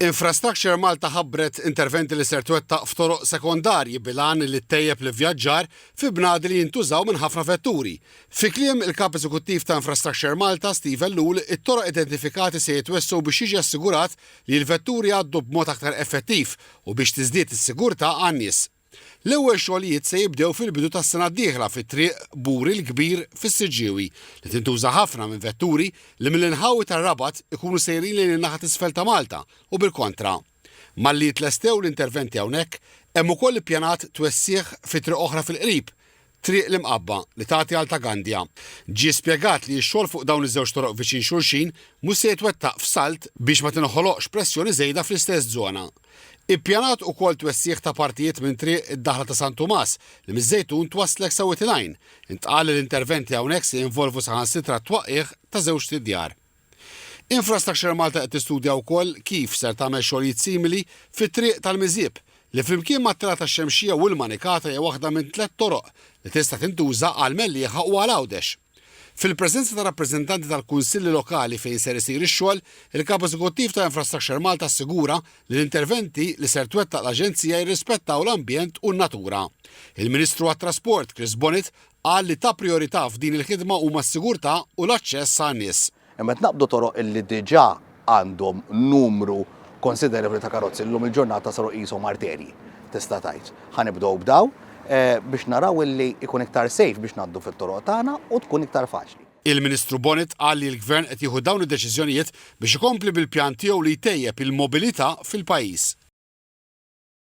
Infrastructure Malta ħabbret interventi li ser twettaq f'toroq sekondarji bil-għan li ttejjeb l-ivvjaġġar fi bnadi li jintużaw minn ħafna vetturi. Fi kliem il-Kap Eżekuttiv ta' Infrastructure Malta, Steve Ellul, it-toroq identifikati se jitwessgħu biex jiġi assigurat li l-vetturi jgħaddu b'mod aktar effettiv u biex tiżdied is-sigurtà għan-nies. L-ewwel xogħlijiet se jibdew fil-bidu tas-sena d-dieħla fit-triq Buri l-Kbir fis-Siġġiewi li tintuża ħafna minn vetturi li mill-inħawi tar-Rabat ikunu sejrin lejn in-naħa t'isfel ta' Malta u bil-kontra. Malli jitlestew l-interventi hawnhekk, hemm ukoll ippjanat twessigħ fi triq oħra fil-qrib, Triq l-Imqabba li tagħti għal Ta' Gandia. Ġie spjegat li x-xogħol fuq dawn iż-żewġ toroq viċin xulxin mhux se jitwettaq f'salt biex ma tinħoloqx pressjoni żejda fl-istess żona. Ippjanat ukoll twessigħ ta' partijiet minn triq id-daħla ta' San Tumas li miż-Żejtun twasslek sa Wied il-Għajn. Intqal li l-interventi hawnhekk se jinvolvu saħansitra t-twaqqigħ ta' żewġt idjar. Infrastructure Malta qed tistudja wkoll kif ser tagħmel xogħlijiet simili fit-Triq tal-Miżieb, li flimkien mat-Telgħa tax-Xemxija u l-Manikata hija waħda minn tliet toroq li tista' tintuża għal Mellieħa u għal Għawdex. Fil-preżenza ta' rappreżentanti tal-Kunsilli Lokali fejn ser isir ix-xogħol, il-Kap Eżekuttiv ta' Infrastructure Malta assigura li l-interventi li ser twettaq l-Aġenzija jirrispettaw l-ambjent u n-natura. Il-Ministru għat-Trasport, Chris Bonnet, Qal li ta' prijorità f'din il-ħidma huma s-sigurtà u l-aċċess għan-nies. Imma qed naqbdu toroq illi diġà għandhom numru konsiderevoli ta' karozzi li llum il-ġurnata saru qishom arterji, tista' tgħid. Ħa nibdew b'dawn biex naraw illi jkun iktar safe biex ngħaddu fit-toroq tagħna u tkun iktar faċli. Il-Ministru Bonett qal li l-Gvern qed jieħu dawn id-deċiżjonijiet biex ikompli bil-pjan tiegħu li jtejjeb il-mobilità fil-pajjiż.